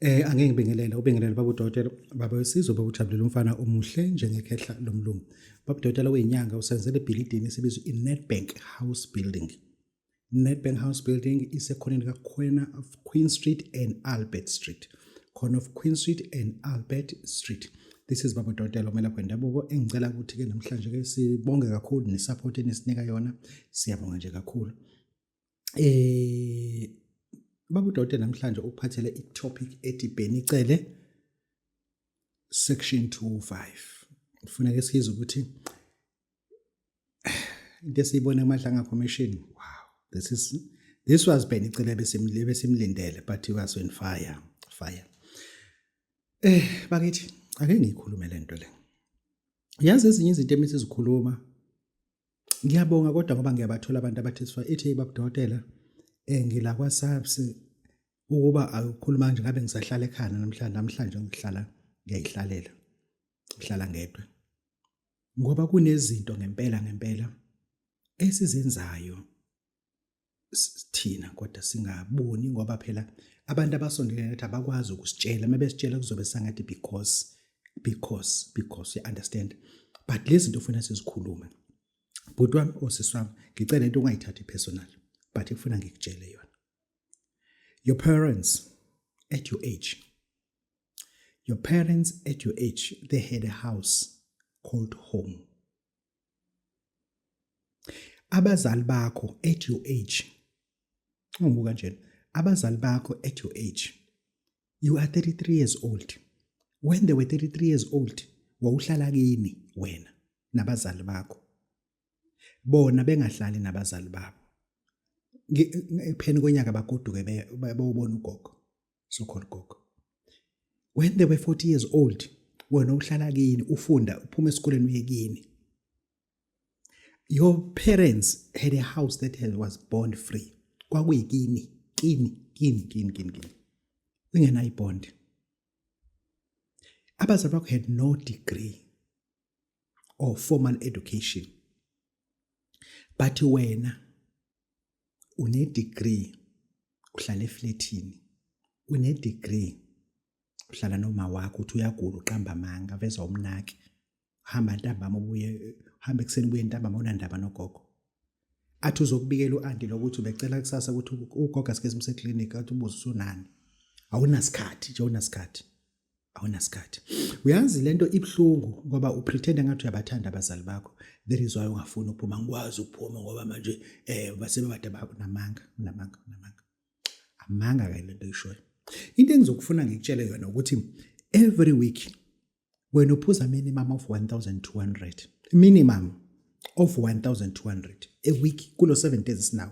Eh angeke ngibingelele ubingelele baba udokotela baba wesizwe baba ujabulela umfana omuhle njengekhehla lomlungu baba udokotela weyinyanga usenzele ebhilidini esibiza i-Nedbank House Building Nedbank House Building isekhona lika Quena of Queen Street and Albert Street khona of Queen Street and Albert Street this is baba Dotela omelaphi wendabuko engicela ukuthi ke namhlanje ke sibonge kakhulu nesupport enisinika yona siyabonga nje kakhulu eh baba Dotela namhlanje ukuphathele i topic ethi Benicele section 25 ufuna ke siyize ukuthi into esiyibona kumadlanga formation wow this is this was bheni icele besimlindele but he was on fire fire eh bakithi ake ngiyikhulume le nto le yazi ezinye izinto emisi zikhuluma ngiyabonga kodwa ngoba ngiyabathola abantu abathi sifa ithi babudokotela eh ngila kwa SAPS ukuba akukhuluma nje ngabe ngisahlala ekhaya namhlanje namhlanje ngihlala ngiyayihlalela ngihlala ngedwa Ngoba kunezinto ngempela ngempela esizenzayo sithina kodwa singaboni ngoba phela abantu abasondelene nathi abakwazi ukusitshela mebesitshela kuzobe sangathi because because because you understand but lezi zinto ufuna sizikhulume bhuti wami osisi wami ngicela into ungayithathi personal but ifuna ngikutshele yona your parents at your age Your parents at your age, they had a house called home. Abazali bakho at your age. Ungibuka nje. Abazali bakho at your age. You are 33 years old. When they were 33 years old, wawuhlala kini wena nabazali bakho. Bona bengahlali nabazali babo. Pheni konyaka bagoduke beyobona ugogo. so called gogo when they were 40 years old wena uhlala kini ufunda uphuma esikoleni uye kini your parents had a house that had, was bond free kwakuyikini kini kini kini kini kini ungenayo ibond abazali bakho had no degree or formal education but wena unedegree uhlala eflethini unedegree uhlala noma wakho uthi uyagula uqamba amanga veza umnaki hamba ntambama ubuye hamba ekuseni ubuye ntambama unandaba nogogo athi uzokubikela uanti lokuthi ubecela kusasa ukuthi ugogo asike simse clinic athi ubuze usunani awunasikhathi nje awunasikhathi awunasikhathi uyazi lento ibuhlungu ngoba upretend ngathi uyabathanda abazali bakho there is why ungafuni ukuphuma ngikwazi ukuphuma ngoba manje eh basebebade babo namanga namanga namanga amanga ke lento ishoyo into engizokufuna ngikutshele yona ukuthi every week wena uphuza minimum of 1200 minimum of 1200 a week kulo 7 days now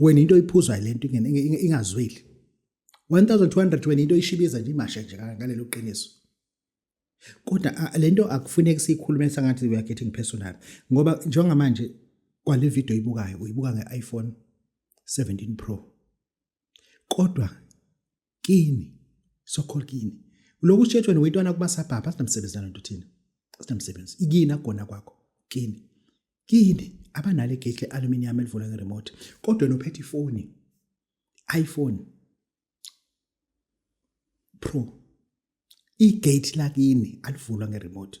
wena into oyiphuzwayo le nto ingazweli 1200 wena into oyishibiza nje imashe nje ngalelo qiniso kodwa le nto akufuneki siyikhulume sangathi we are getting personal ngoba njengamanje kwale video oyibukayo uyibuka nge-iphone 17 pro kodwa kini so called kini lokhu shetshwe nowetwana kuba sabhabha asinamsebenzi nalento thina asinamsebenzi ikini akugona kwakho kini kini abanale gate aluminium elivula nge remote kodwa nophethe ifoni iPhone Pro igate lakini alivulwa nge remote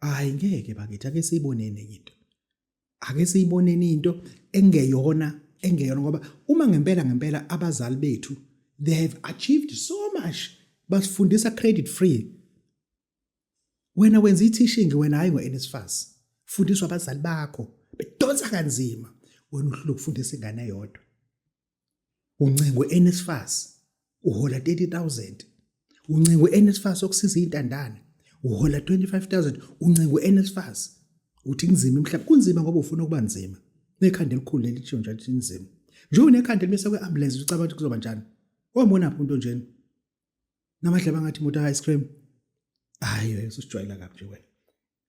hayi ngeke bakithi ake siyiboneni enye into ake siyiboneni into engeyona engeyona ngoba uma ngempela ngempela abazali bethu they have achieved so much basifundisa credit free wena wenza ithishingi wena hayi ngo-NSFAS fundiswa abazali bakho bedonsa kanzima wena uhlulwa ukufundisa ingane yodwa uncengwe NSFAS uhola 30000 uncengwe NSFAS okusiza izintandane uhola 25000 uncengwe NSFAS uthi kunzima emhlabeni kunzima ngoba ufuna ukuba nzima nekhanda elikhulu leli tshiwo njalo linzima njengoba nekhanda elibese kwe-ambulance ucabanga ukuthi kuzoba njani wambonaphi umuntu onjena namadlaba ngathi imoto ice cream hayi wena usijwayela kabi nje wena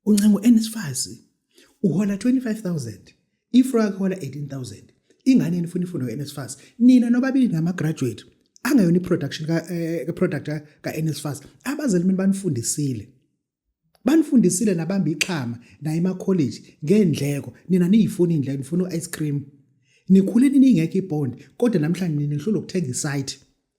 uncengo enesifazi uhola 25000 ifro yakhe hola 18000 ingane yenu funa ifundo ka-nsfas nina nobabili nama-graduate angayona i-production ka-product eh, ka-nsfas abazali mina banifundisile banifundisile nabamba ixhama naye emakholeji ngendleko nina niyifuna indleko nifuna u-ice cream nikhule niningekho ibond kodwa namhlanje nina nihlula ukuthenga isite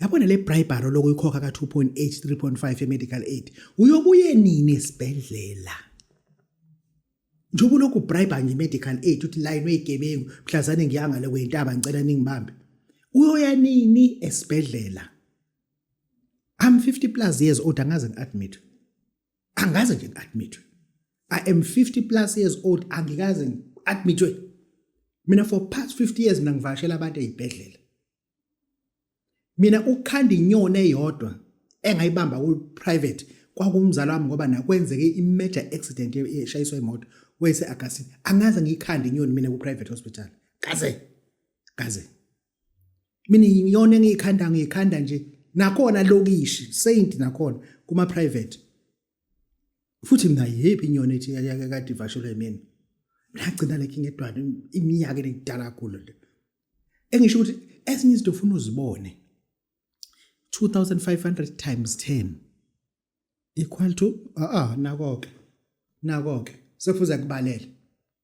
yabona le bribery lokuyikhokha ka-2.8 3.5 ye-medical aid uyobuye nini esibhedlela njengoba ulokhu ubriba nje i-medical aid uthi layini weyigebengu mhlazane ngiyangale kweyintaba ngicela ningibambe uyoya nini esibhedlela i'm 50 plus years old angaze ngi-admit angaze nje ngi-admithwe i am 50 plus years old angikaze ngi-admithwe mina for past 50 years mina ngivashela abantu ey'bhedlela mina ukukhanda inyoni eyodwa engayibamba ku-private kwakumzala wami ngoba nakwenzeke i-major accident eshayiswa imoto wese-agastini angaze ngiyikhande inyoni mina ku-private hospital kaze kaze mina iyona engiyikhanda ngiyikhanda nje nakhona lokishi saint nakhona kuma private futhi mina yiphi inyoni ethi kade ivashelwe yimina ngagcina lekhe ngedwana iminyaka engidala kakhulu le engisho ukuthi ezinye izinto ufuna uzibone 2500 times 10 equal to ah ah nako ke nako ke sekufuze kubalele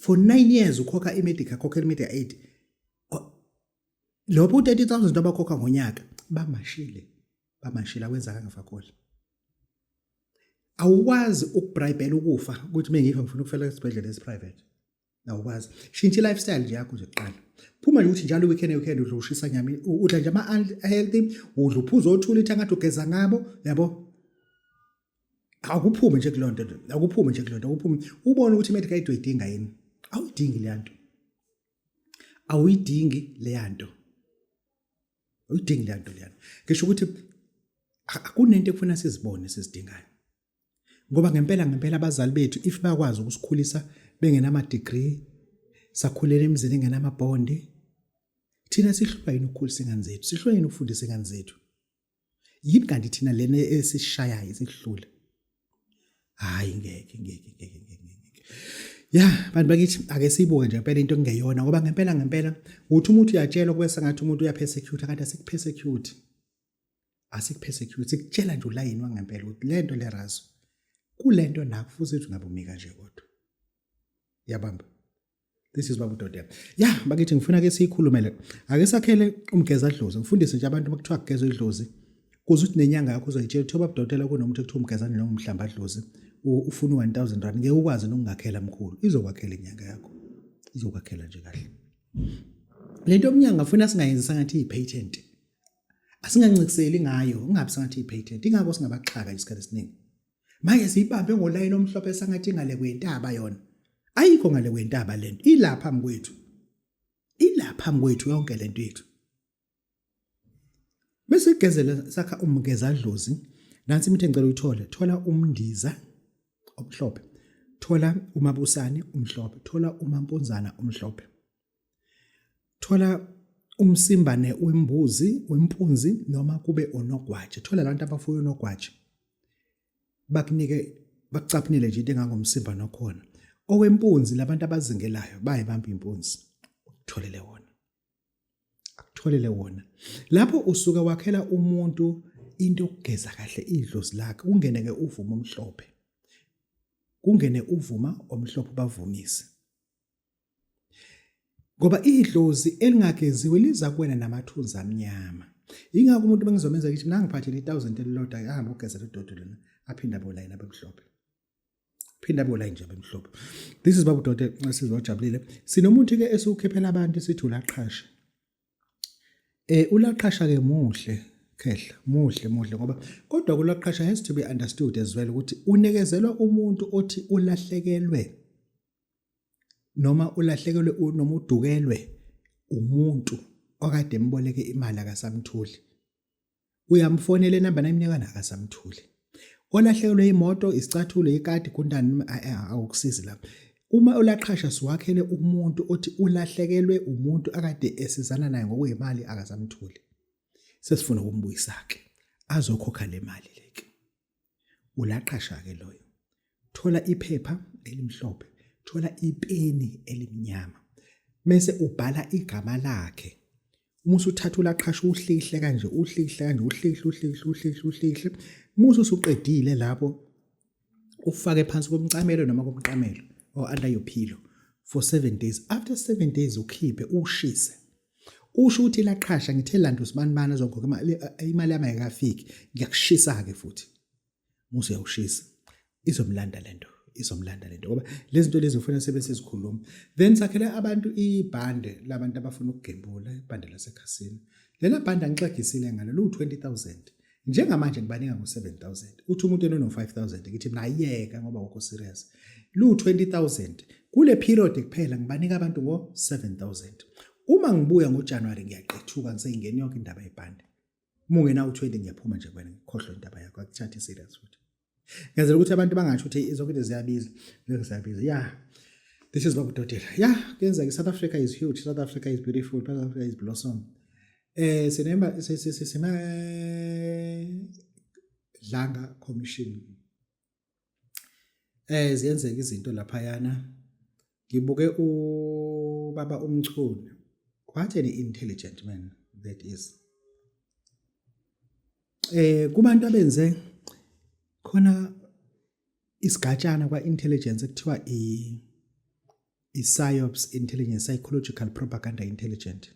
for 9 years ukhokha imedica khokhela imedia aid lobo u30000 abakhokha ngonyaka bamashile bamashila wenza kangafakoli awukwazi ukubribela ukufa ukuthi mengikho ngifuna ukufela esibhedlela esiprivate awukwazi shintsha lifestyle nje yakho nje kuqala phuma nje ukuthi njalo weekend weekend udla ushisa nyama udla nje ama healthy udla uphuzo othula ithangathi ugeza ngabo yabo akuphume nje kulonto akuphume nje kulonto akuphume ubone ukuthi medical aid uyidinga yini awuyidingi le nto awuyidingi le nto awuyidingi le nto le nto ngisho ukuthi akunento ekufuna sizibone sizidingayo ngoba ngempela ngempela abazali bethu if bakwazi ukusikhulisa bengenama degree sakhulela emzini engenama bond thina sihlulwa yini ukukhulisa ingane zethu sihlulwa yini ukufundisa ingane zethu yini kanti thina lena esishayayo isihlule hayi ngeke ngeke ngeke ngeke ya bantu bakithi ake siyibuke nje impela into engeyona ngoba ngempela ngempela uthi umuntu uyatshelwa kube sengathi umuntu uyapersecute kanti asikupersecute asikupersecute sikutshela nje ulayini wangempela ukuthi lento lerazo kulento nakufuze ukuthi ungabumika nje kodwa yabamba this is babudoda ya bakithi ngifuna ke siyikhulumele ake sakhele umgeza dlozi ngifundise nje abantu bakuthiwa kugezwa idlozi kuze ukuthi nenyanga yakho uzoyitshela kuthiwa babudokotela kunomuntu ekuthiwa umgezane noma umhlamba dlozi ufuna u-1000 rand ngeke ukwazi nokungakhela mkhulu izokwakhela inyanga yakho izokwakhela nje kahle le nto omnyanga afuna singayenzi sangathi iyi-patent asingancikiseli ngayo ungabi sangathi iyi-patent ingako singabaxhaka isikhathi esiningi manje siyibambe ngolayini omhlophe sangathi ngale kwentaba yona ayikho ngale kwentaba lento ilapha mkwethu ilapha mkwethu yonke lento yethu bese igezela sakha umgeza dlozi nansi imithe ngicela uyithole thola umndiza omhlophe thola umabusane omhlophe thola umampunzana omhlophe thola umsimbane wembuzi wempunzi noma kube onogwaje thola abantu abafuye onogwaje bakunike bakucaphunele nje into engangomsimba nokhona owempunzi labantu abazingelayo bayibamba impunzi utholele wona akutholele wona lapho usuka wakhela umuntu into yokugeza kahle idlozi lakhe ungene ke uvuma omhlophe kungene uvuma omhlophe bavumise ngoba idlozi elingageziwe liza kuwena namathunzi amnyama yingakho umuntu bengizomenza kithi mina ngiphathele i-thousand elilodwa ahambe ogezela udodi lona aphinde abolayini abemhlophe phinde abolayini nje abemhlophe this is babu dode sizojabulile sinomuntu-ke esiwukhiphela abantu sithi ulaqhashe um ulaqhasha-ke muhle khehla muhle muhle ngoba kodwa kulaqhasha has to be understood as well ukuthi unekezelwa umuntu othi ulahlekelwe noma ulahlekelwe noma udukelwe umuntu okade emboleke imali akasamtholi uyamfonela inamba nayimnikana akasamtholi olahlekelwe imoto isicathulo ikati kuntani awukusizi lapho Uma ulaqhasha siwakhele umuntu othi ulahlekelwe umuntu akade esizana naye ngokwemali akasamtholi. Sesifuna ukumbuyisa-ke azokhokha le mali leke. Ulaqasha-ke loyo. Thola iphepha elimhlophe, thola ipeni elimnyama. Mese ubhala igama lakhe. Uma usuthatha ulaqhasha uhlihle kanje, uhlihle kanje, uhlihle, uhlihle, uhlihle, uhlihle. Musa usuqedile lapho ufake phansi komcamelo noma komqamelo or under your pillow for 7 days. After 7 days ukhiphe ushise. usho ukuthi laqhasha ngithe landa usibanibani azokhokha imali eh, imali yami ayikafiki ngiyakushisa ke futhi musa uyawushisa izomlanda lento izomlanda lento ngoba lezi zinto lezi ufuna sebese sikhuluma then sakhele abantu ibhande labantu abafuna ukugembula ibhande lasekhasini lena bhande angixegisile ngalo lu 20000 njengamanje ngibaninga ngo-7000 uthi umuntu enono-5000 ngithi mina ayiyeka ngoba wokho serious lu-20000 kule period kuphela ngibanika abantu ngo-7000 uma ngibuya ngojanuwari ngiyaqethuka ngiseyingeni yonke indaba yebhande uma ungenawu-20 ngiyaphuma nje kwena ngikhohlwe indaba yakho akuthathe serious futhi ngenzela ukuthi abantu bangasho ukuthi zonke into ziyabiza ngeke ziyabiza ya this is bakudodela ya kuyenzeka south africa is huge south africa is beautiful south africa is blossom eh sinemba sisima dlanga commission eh ziyenzeka izinto laphayana ngibuke ubaba umchunu what an intelligent man that is eh kubantu abenze khona isigatshana kwa intelligence ekuthiwa i i-psyops intelligence psychological propaganda intelligent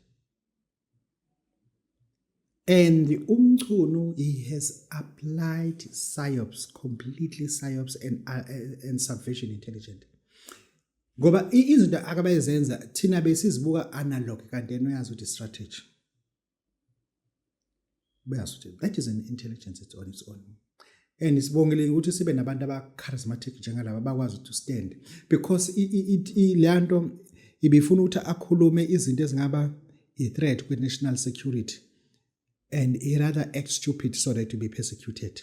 And umchunu he has applied psyops completely psyops and uh, uh and subversion intelligent. Ngoba izinto akabayezenza thina besizibuka analog kanti yena uyazi ukuthi strategy. Uyazi ukuthi that is an intelligence it's on its own. And sibongile ukuthi sibe nabantu aba charismatic njengalaba bakwazi to stand because ilanto ibifuna ukuthi akhulume izinto ezingaba i threat kwi national security and he rather act stupid so that to be persecuted.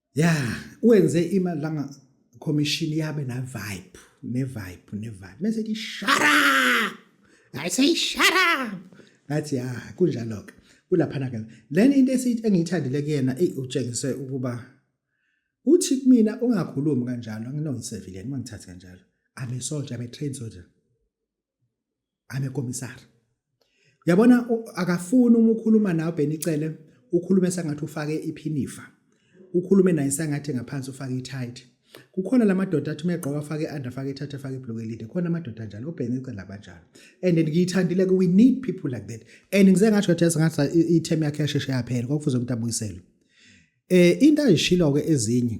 ya wenze imali langa commission yabe na vibe ne vibe ne vibe mase di shara i say shara ngathi ya kunjalo ke kulaphana ke lena into esithi engiyithandile kuyena ey utshengise ukuba uthi kumina ungakhulumi kanjalo anginoyisevile ngingithathe kanjalo i'm a soldier i'm a trained soldier amekomisari uyabona akafuni uma ukhuluma nawe benicele ukhulume sengathi ufake iphinifa ukhulume naye sengathi ngaphansi ufake ithayithi kukhona lamadoda athi megqoka afake under afake ithathe afake ibhloko elide khona amadoda njalo obhengice labanjalo and ngiyithandile we need people like that and ngize ngasho ukuthi yasingathi i-term yakhe yasheshe yaphela kwakufuze umuntu abuyiselwe eh into ayishilo ke ezinye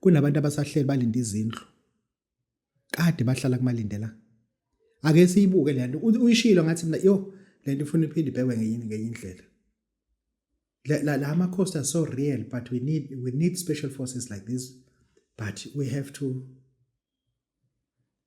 kunabantu abasahleli balinde izindlu kade bahlala kumalindela ake siyibuke le nto uyishilo ngathi mina yo le nto ifuna iphinde ibhekwe ngenye ngenye indlela la la amakhosi are so real but we need we need special forces like this but we have to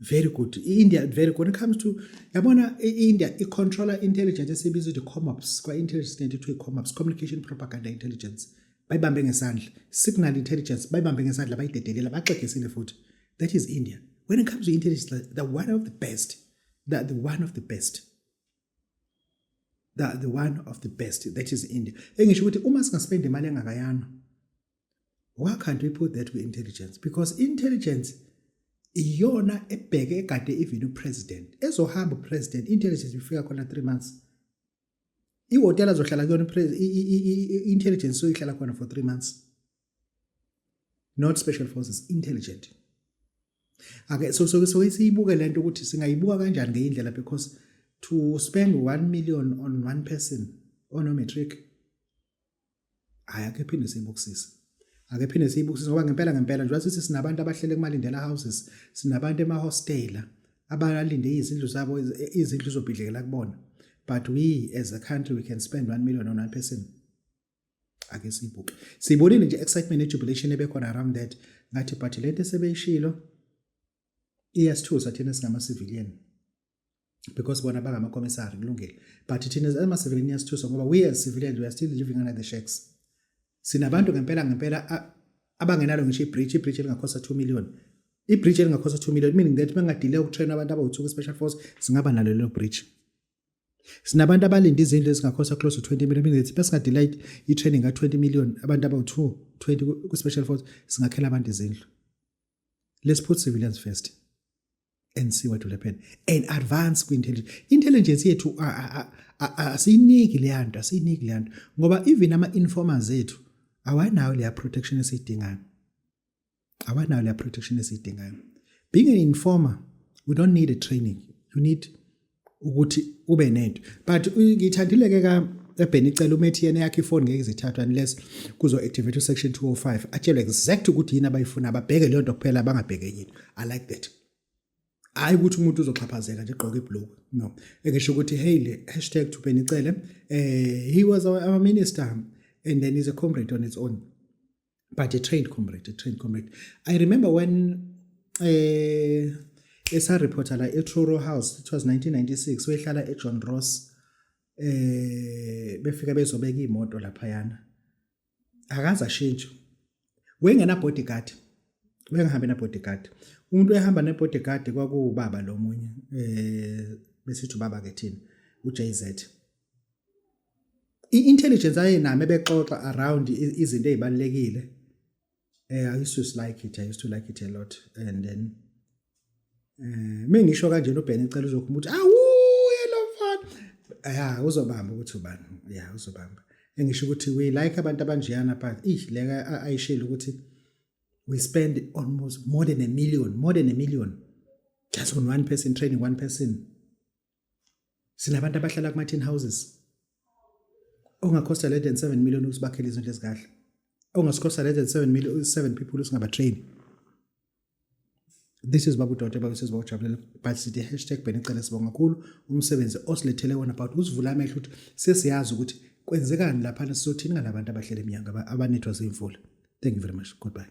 very good i-india very good when it comes to yabona i-india i-controller intelligence esibiza ukuthi comops kwa-intelligence nento kuthiwa i-comops communication propaganda intelligence bayibambe ngesandla signal intelligence bayibambe ngesandla bayidedelela baxegesile futhi that is india when it comes to intelligence the one of the best the, the one of the best the, the one of the best that is india engisho ukuthi uma singasipenda imali engakayana why can't we put that kwi-intelligence because intelligence iyona ebheke egade even upresident ezohamba upresident intelligence ifika khona 3 months ihotela azohlala kuyona i-intelligence soyihlala khona for 3 months not special forces intelligent ake so so so siyibuke lento ukuthi singayibuka kanjani ngeindlela because to spend 1 million on one person on a matric hayi ake phinde siyibukisise ake phinde siyibukisise ngoba ngempela ngempela njengoba sithi sinabantu abahlele kumalindela houses sinabantu emahostela abalinde izindlu zabo izindlu zobhidlekela kubona but we as a country we can spend 1 million on one person ake siyibuke siyibonile nje excitement nejubilation ebekhona around that ngathi but lento esebeyishilo iyasithusa thina singama civilian because bona bangamacommissary kulungile but thina as ama-civilian iyasithusa ngoba we as civilians we are still living under the shacks sinabantu ngempela ngempela abangenalo ngisho ibridge ibridge elingakhosta 2 million ibridge elingakhosta 2 million meaning that bengadile ukutrain abantu abawuthuka special force singaba nalo lelo bridge sinabantu abalinde izindlu ezingakhosta close to 20 million meaning that besingadile i-training ka 20 million abantu abawu-2 20 ku-special force singakhela abantu izindlu let's put civilians first ensiwa dulepheni and advance kwi-intelligence intelligence yethu asiyiniki leya nto asiyiniki leya nto ngoba even ama-informers ethu awanayo leya protection esiyidingayo awanayo leya protection esiyidingayo being an informer we don't need a training you need ukuthi ube nento but ngithandile ke ka ebheni icela umethi yena yakhe ifoni ngeke izithathwe unless kuzo activate section 205 atshelwe exact ukuthi yini abayifuna ababheke leyo nto kuphela bangabheke yini i like that hayi ukuthi umuntu uzoxhaphazeka nje gqoka iblock no ekesho ukuthi hey le hashtag to benicele eh he was our, our minister and then he's a comrade on its own but a trained comrade a trained comrade i remember when eh esareporta la eTruro House it was 1996 wehlala eJohn Ross eh befika bezobeka imoto lapha yana akaza shintsho wengena bodyguard bengihambe na bodyguard umuntu ehamba ne bodyguard kwakuwubaba lomunye eh besithi ubaba ke thina uJZ i-intelligence ayenami ebexoxa around izinto ezibalekile eh i used to like it i used to like it a lot and then eh mengisho kanje no Ben icela uzokhumba ukuthi awu yelo mfana ya uzobamba ukuthi ubani ya uzobamba engisho ukuthi we like abantu abanjiyana but ish leka ayishela ukuthi we spend almost more than a million more than a million just on one person training one person sinabantu abahlala kuma-tin houses ongakhosta less than 7 million usibakhele izinto ezikahle ongasikhosta less than 7 million 7 people usingabatrain this is babu dote babe siziba ujabulela but sithi hashtag benicele sibonga kakhulu umsebenzi osilethele wona about usivula amehlo ukuthi sesiyazi ukuthi kwenzekani laphana sizothini ngalabantu abahlele emnyanga abanethwa zimvula thank you very much goodbye